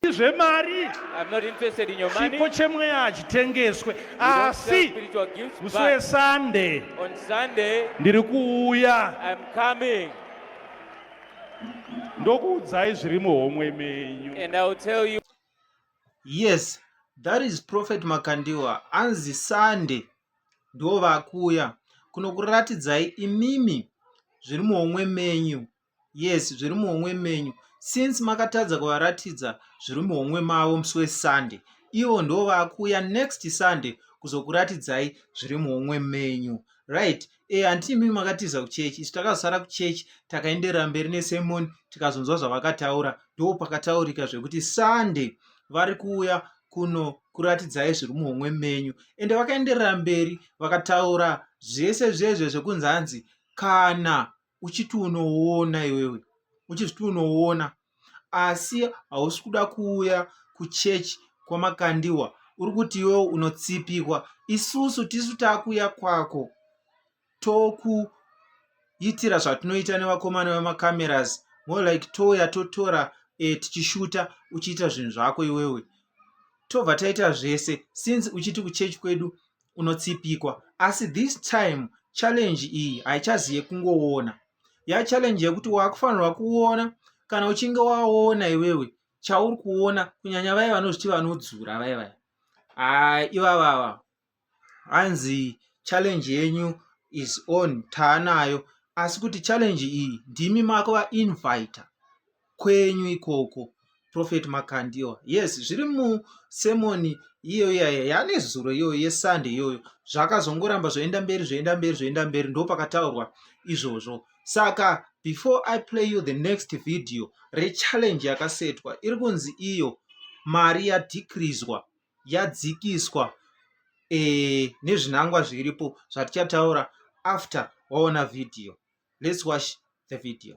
zvemari chipo chemweya hachitengeswe asi musi wesande ndiri kuuya ndokuudzai zviri muhomwe menyu yes that is prophet makandiwa anzi sande ndo vakuuya kunokuratidzai imimi zviri muhomwe menyu yes zviri muhomwe menyu since makatadza kuvaratidza zviri muhomwe mavo musi wesunday ivo ndo vakuuya next sunday kuzokuratidzai zviri muhomwe menyu right e eh, handiti imimi makatiza kuchechi isu takazosara kuchechi takaenderera mberi nesemoni tikazonzwa zvavakataura ndo pakataurika zvekuti sunday vari kuuya kuno kuratidzai zviri muhomwe menyu ende vakaenderera mberi vakataura zvese zvezve zvekunzi hanzi kana uchiti unoona iwewe uchiti unoona asi hausi kuda kuuya kuchechi kwamakandiwa uri kuti iwewe unotsipikwa isusu tisu takuuya kwako tokuitira zvatinoita nevakomana vemacameras more like touya totora e, tichishuta uchiita zvinhu zvako iwewe tobva taita zvese since uchiti kuchechi kwedu unotsipikwa asi this time challenge iyi haichazi yekungoona ya challenge yekuti wakufanirwa kuona kana uchinge waona iwewe chauri kuona kunyanya vaye vanozviti vanodzura vaye vaye haa ivavava hanzi challenge yenyu is on taanayo asi kuti challenge iyi ndimi mako vainvita kwenyu ikoko prophet makandiwa yes zviri musemoni iyo iyayo yane zuro iyoyo yesande iyoyo zvakazongoramba zvoenda mberi zvoenda mberi zvoenda mberi ndo pakataurwa izvozvo saka before i play you the next video rechallenge yakasetwa iri kunzi iyo mari yadhikrizwa yadzikiswa e, nezvinangwa zviripo zvatichataura after waona video let's watch the video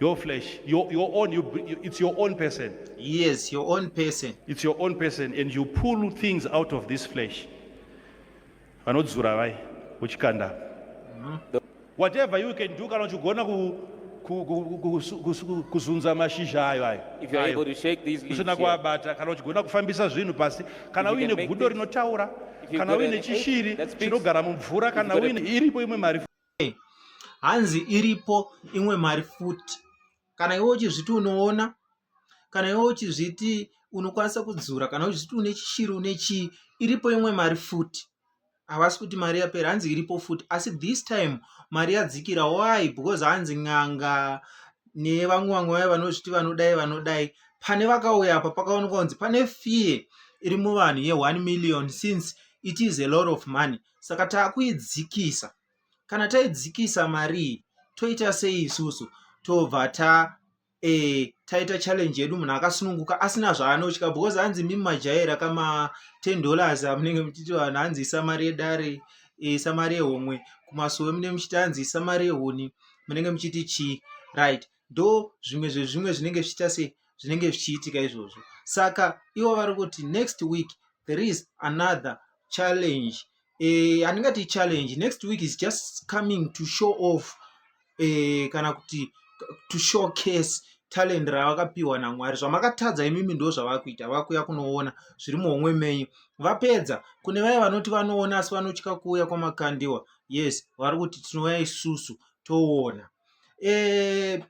your flesh your, your own you, it's your own person yes your own person it's your own person and you pull things out of this flesh vanodzura vai uchikanda mm -hmm. whatever you can do kana uchigona kuzunza mashizha ayo ayousina kuabata kana uchigona kufambisa zvinhu pasi kana uine gudo rinotaura kana uine chishiri chinogara mumvura kana uine iripo imwe mari hanzi iripo imwe mari futi kana iwe uchizviti unoona kana iwe uchizviti unokwanisa kudzura kana uchizviti une chishiri une chii iripo imwe mari futi havasi kuti mari yapera hanzi iripo futi asi this time mari yadzikira why because hanzi n'anga nevamwe vamwe vaye vanozviti vanodai vanodai pane vakauya apa pakaonekwa kunzi pane fee iri muvanhu ye1 million since it is a lot of money saka takuidzikisa kana taidzikisa marii toita sei isusu tobva ta e, taita challenge yedu munhu akasununguka asina zvaanotya because hanzi mimi majaira kama 10 dollars amunenge muchiti vanhu hanzi isa mari yedare eh, isa mari yehomwe kumasowe mune muchiti hanzi isa mari yehuni munenge muchiti chii right ndo zvimwe zvezvimwe zvinenge zvichiita sei zvinenge zvichiitika izvozvo saka ivo vari kuti next week there is another challenge eh, handingati challenge next week is just coming to show off eh, kana kuti to show case talent ravakapiwa namwari zvamakatadza imimi ndo zvavakuita vakuya kunoona zviri muhomwe menyu vapedza kune vaye vanoti vanoona asi vanotya kuuya kwamakandiwa yes vari kuti tinouya isusu toona to e,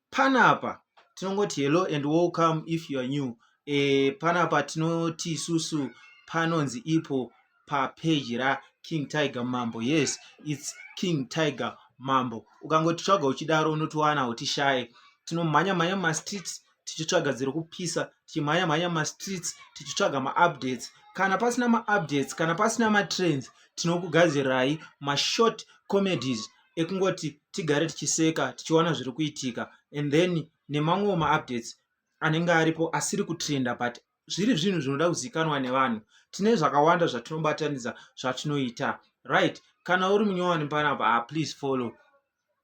panapa tinongoti hello and welcome if you are new e, panapa tinoti isusu panonzi ipo papeji raking tiger mambo yes its king tiger mambo ukangotitsvaga uchidaro unotiwana utishaye tinomhanya mhanya mumastreets tichitsvaga dziri kupisa tichimhanya mhanya mumastreets tichitsvaga maupdates kana pasina maupdates kana pasina matrends tinokugadzirirai mashort comedies ekungoti tigare tichiseka tichiona zviri kuitika and then nemamwewo maupdates anenge aripo asiri kutrenda but zviri zvinhu zvinoda kuzikanwa nevanhu tine zvakawanda zvatinobatanidza zvatinoita right kana uri munyowani panapa ah, please follow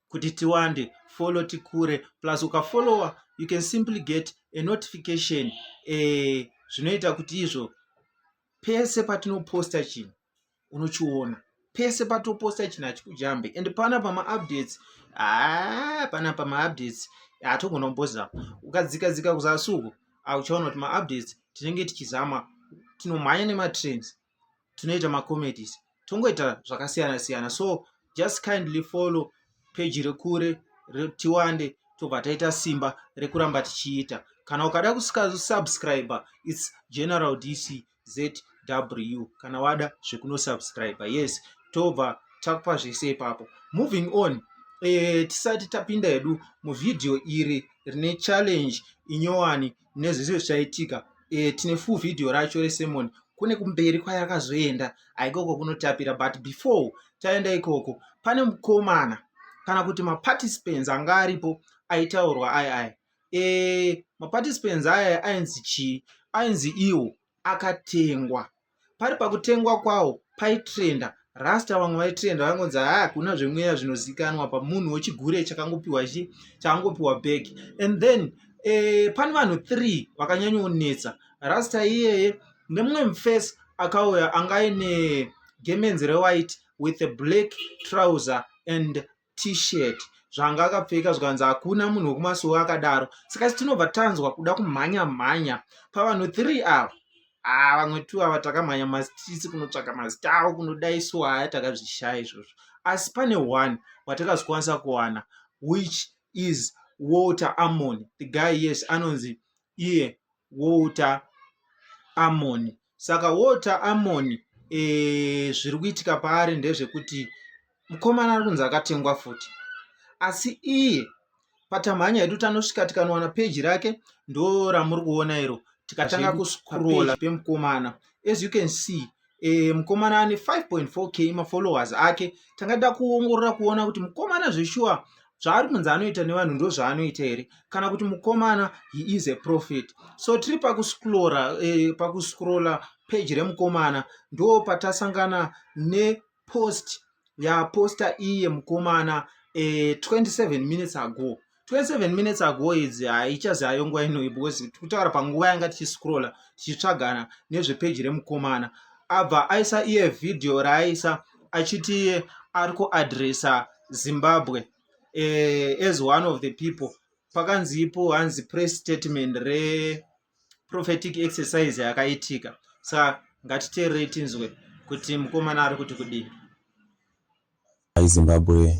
kuti tiwande follow tikure plus ukafollowa you can simply get a notification eh, zvinoita kuti izvo pese patinoposta chinhu unochiona pese patoposta chinhu hachikujambe and pana pamaupdates ah, pana pamaupdates hatogona kumbozama ukadzika dzika kuzasuku auchaona kuti maupdates tinenge tichizama tinomhanya nematrains tinoita macomedies tongoita zvakasiyana siyana so just kindly follow peji rekure tiwande tobva taita simba rekuramba tichiita kana ukada kusubscribe its general dc zw kana wada zvekunosubscribe yes tobva takupa zvese ipapo moving on e, tisati tapinda hedu muvhidhiyo iri rine challenge inyowani nezvese zvichaitika e, tine full video racho resemon kune kumberi kwaye akazoenda aikoko kunotapira but before taenda ikoko pane mukomana kana kuti maparticipants anga aripo aitaurwa ayi ayi e, maparticipants aya ainzi chii ainzi iwo akatengwa pari pakutengwa kwawo paitrenda rasta vamwe vaitrenda vaingonzi haa ah, hakuna zvemweya zvinozikanwa pamunhu wechigure chakangopiwa chi chakangopiwa bag and then eh, pane vanhu three vakanyanyonetsa rasta iyeye nemumwe mufesi akauya anga aine gemenzi rewhite with a black trouser and t-shirt zvanga akapfeka zvikanzi hakuna munhu wekumasuwo akadaro saka tinobva tanzwa kuda kumhanya mhanya pavanhu three ava haa vamwe two ava takamhanya mastreets kunotsvaka mazita avo kunodaiswa haya takazvishaya izvozvo asi pane one watakazokwanisa kuwana which is walter amon the guy yes anonzi iye walter amon saka water amon e, eh, zviri kuitika paari ndezvekuti mukomana ari kunzi akatengwa futi asi iye patamhanya yedu tanosvika tikanowana peji rake ndo ramuri kuona iro tikatanga kuscrolla pemukomana as you can see e, mukomana ane 5.4 k mafollowers ake tangada kuongorora kuona kuti mukomana zveshuwa zvaari kunzi anoita nevanhu ndo zvaanoita here kana kuti mukomana he is a profit so tiri pakuscrora eh, pakuscrolla page remukomana ndo patasangana nepost yaposta iye mukomana eh, 27 minutes ago 27 minutes ago idzi haichazi ayo nguva inoi because tikutaura panguva yanga tichiscrolla tichitsvagana nezvepeji remukomana abva aisa iye vhidhiyo raaisa achiti iye ari kuadresa zimbabwe eh, as one of the people pakanzi ipo hanzi press statement reprophetic exercise yakaitika sa ngatiteerei tinzwe kuti mukomana ari kuti kudii zimbabwe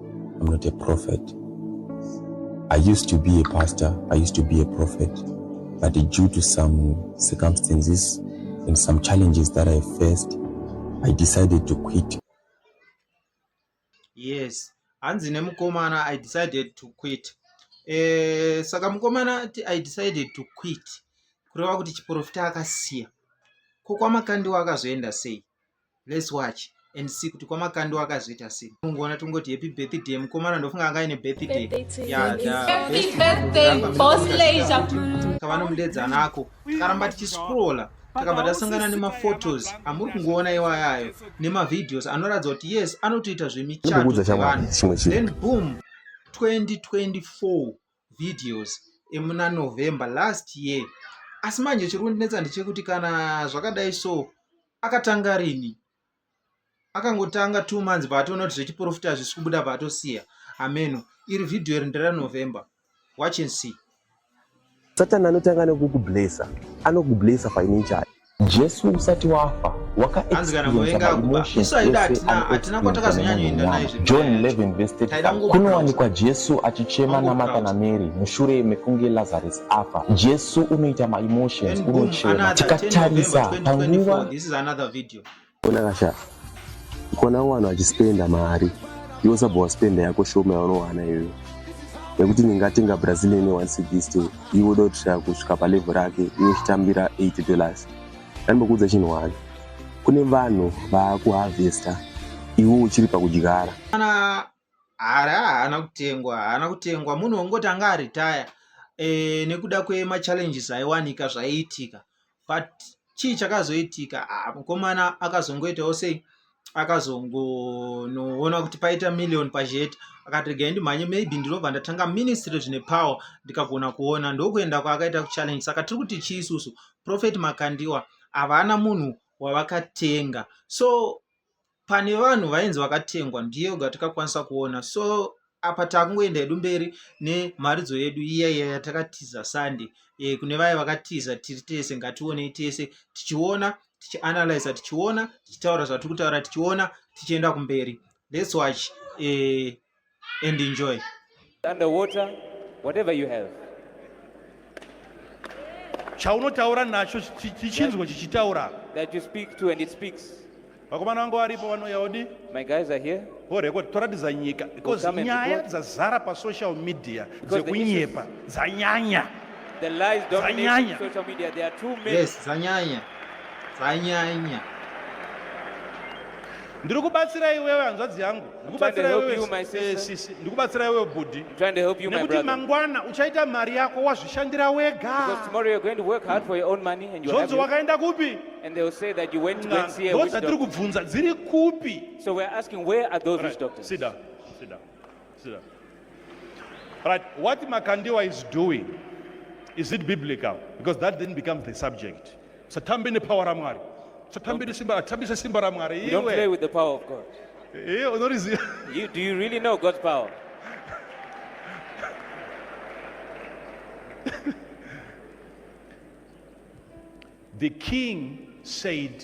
I'm not a prophet. I used to be a pastor, I used to be a prophet, but due to some circumstances and some challenges that I faced, I decided to quit. Yes, hanzi nemukomana I decided to quit. Eh, saka mukomana I decided to quit kureva kuti chiporofita akasiya ko kwamakandiwa akazoenda sei let's watch and see kuti kwamakando akazoita sei ungoona tongoti happy birthday mukomana ndofunga anga aine birthday kavanomudeedza nako karamba tichiscrolla takabva tasangana nemaphotos amuri kungoona iwaya ayo nemavideos anoratidza kuti yes anotoita zvemichato dzevanhu then boom 2024 videos emuna November last year asi manje chiri kundinetsa ndechekuti kana zvakadai so akatanga rini akangotanga two months paatoona kuti zvechiprofita hazvisi kubuda paatosiya ameno iri vhidhiyo iri nderanovember watch and see satani anotanga nekukublesa anokublesa financially Jesu usati wafa waka Hanzi kana experience kuvenga ma kuba. emotions Isu aida ese hatina- ano hatina kwa experience takazonyanya kuenda naye nemunyama. zvimwe John nyaya yacho. 11 verse Taida 35 kungo kunowanikwa Jesu achichema Kungo naMartha crowd. naMary mushure mekunge Lazarus afa. Jesu unoita ma emotions, And boom, unochema. another 10 November Tikatarisa panguva 2024. This is another video. Ona kasha kona wanhu achispenda mari iwe sabva waspenda yako shoma yaunowana iyoyo nekuti ndingatenga brazilian one cdist iwe uda kutisvika kusvika palevel rake iwe uchitambira 8 dollars ndandimbokuudza chinhu wani kune vanhu vaakuharvesta iwe uchiri pakudyara kana hari haana kutengwa haana kutengwa munhu wongoti anga aritaya e, eh, nekuda kwemachallenges aiwanika zvaiitika but chii chakazoitika ah, mukomana akazongoitawo sei akazongonoona kuti paita million pajet akati regai ndimhanye maybe ndinobva ndatanga ministry zvine power ndikagona kuona ndokuenda kwaakaita kuchallenge saka tiri kuti chii isusu prophet makandiwa havana munhu wavakatenga so pane vanhu vainzi vakatengwa ndiyo yoga tikakwanisa kuona so apa takungoenda hedu mberi nemharidzo yedu iya iya yatakatiza sunday e, kune vaya vakatiza tiri tese ngationei tese tichiona tichianalyza tichiona tichitaura zvatiri kutaura tichiona tichienda kumberi let's watch e, and enjoy underwater whatever you have chaunotaura nacho chichinzwa chichitaura that you speak to and it speaks vakomana vangu varipo vanouya odi my guys are here vorekod toratidza nyika because nyaya dzazara pasocial media dzekunyepa dzanyanya The lies dominating social media. There are too many. Yes, zanyanya. Zanyanya. Ndiri kubatsira iwewe hanzvadzi yangu. ndikubatsira iwewe bhudhi nekuti mangwana uchaita mari yako wazvishandira wegazvonzi wakaenda kupi ndozvatiri kubvunza dziri kupi Right, what Makandiwa is doing, is it biblical? Because that then becomes the subject. Satambe ne power ra Mwari. Satambe ne simba, tambisa simba ra Mwari. Iwe. Don't play with the power of God. Eh, unoriziva. You do you really know God's power? the king said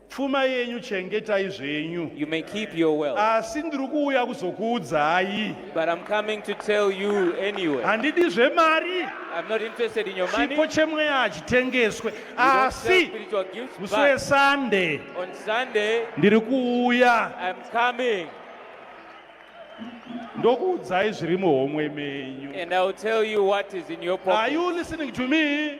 pfuma yenyu chengetai zvenyu You may keep your wealth. asi ndiri kuuya kuzokuudzai But I'm coming to tell you anyway. handidi zvemari I'm not interested in your money. chipo You chemweya hachitengeswe don't sell asi spiritual gifts. musi But wesande on Sunday, ndiri kuuya I'm coming ndokuudzai zviri muhomwe menyu and I'll tell you what is in your are pocket. you listening to me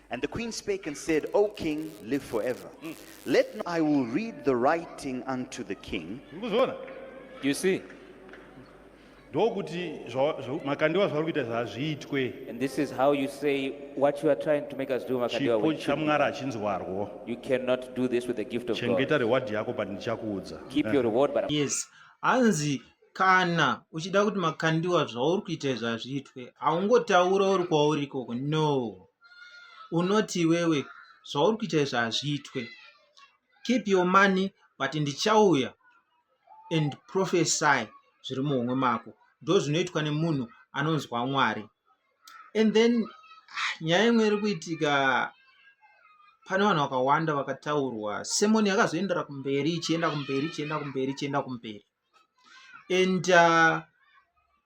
And the queen spake and said, O king, live forever. Mm. Let not, I will read the writing unto the king. You see? ndokuti makandiwa zvavari kuita zvazviitwe And this is how you say what you are trying to make us do, Makandiwa. chipo chamwari hachinzwarwo You cannot do this with the gift of God. chengeta reward yako but ndichakuudza Keep your reward, but I'm Yes. Anzi kana uchida kuti makandiwa zvauri kuita izvi hazviitwe haungotaura uri kwauri ikoko no unoti iwewe zvauri kuita izvi hazviitwe keep your money but ndichauya and prophesy zviri muhomwe mako ndo zvinoitwa nemunhu anonzwa mwari and then ah, nyaya imwe iri kuitika pane vanhu vakawanda vakataurwa semoni yakazoendera kumberi ichienda kumberi ichienda kumberi ichienda kumberi, ichienda kumberi. and uh,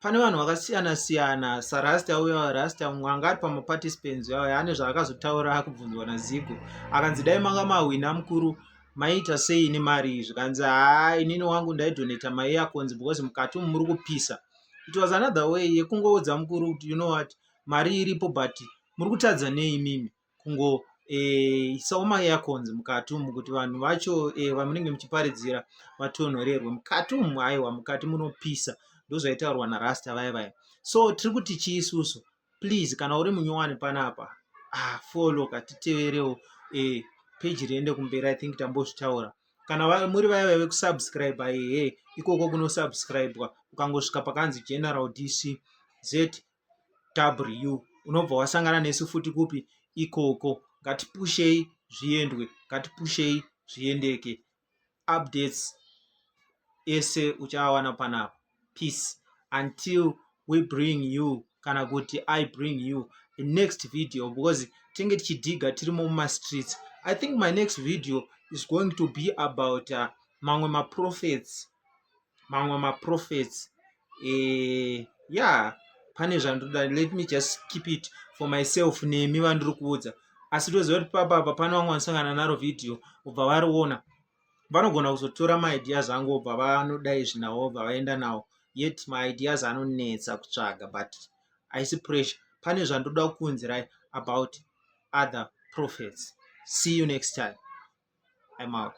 pane vanhu vakasiyana siyana sarasta uya rasta mumwe anga ari pamaparticipants uya ane zvaakazotaura akubvunzwa nazigo akanzi dai manga mahwina mukuru maiita sei ini mari zvikanzi haa inini wangu ndaidoneta mai yakonzi because mukati umu muri kupisa it was another way yekungoudza mukuru kuti you know what mari iripo but muri kutadza nei mimi kungoisawo eh, maearcons mukati umu kuti vanhu vacho eh, vamunenge muchiparidzira vatonhorerwe mukati umu aiwa mukati munopisa ndozvaitaurwa narasta vaya vaya so tiri kuti chii isusu please kana uri munyowani panapa ah, follow katiteverewo eh, peji riende kumberi i think tambozvitaura kana muri vaya vave kusubscribe aihe ikoko kunosubscribwa ukangosvika pakanzi general dc z ww unobva wasangana nesu futi kupi ikoko ngatipushei zviendwe ngatipushei zviendeke updates ese uchaawana panapa peace until we bring you kana kuti i bring you the next video because tinge tichidhiga tirimo mumastreets i think my next video is going to be about uh, mamwe maprofets mamwe maprophets eh, ya pane zvandoda let me just keep it for myself nemi vandiri kuudza asi toziva kuti papa apa pane vamwe vanosangana naro vhidhiyo obva variona vanogona kuzotora maideas angu obva vanoda izvi nawo obva vaenda nawo yet maideas anonetsa kutsvaga but haisi pressure pane zvandoda kuunzirai about other prophets see you next time i'm out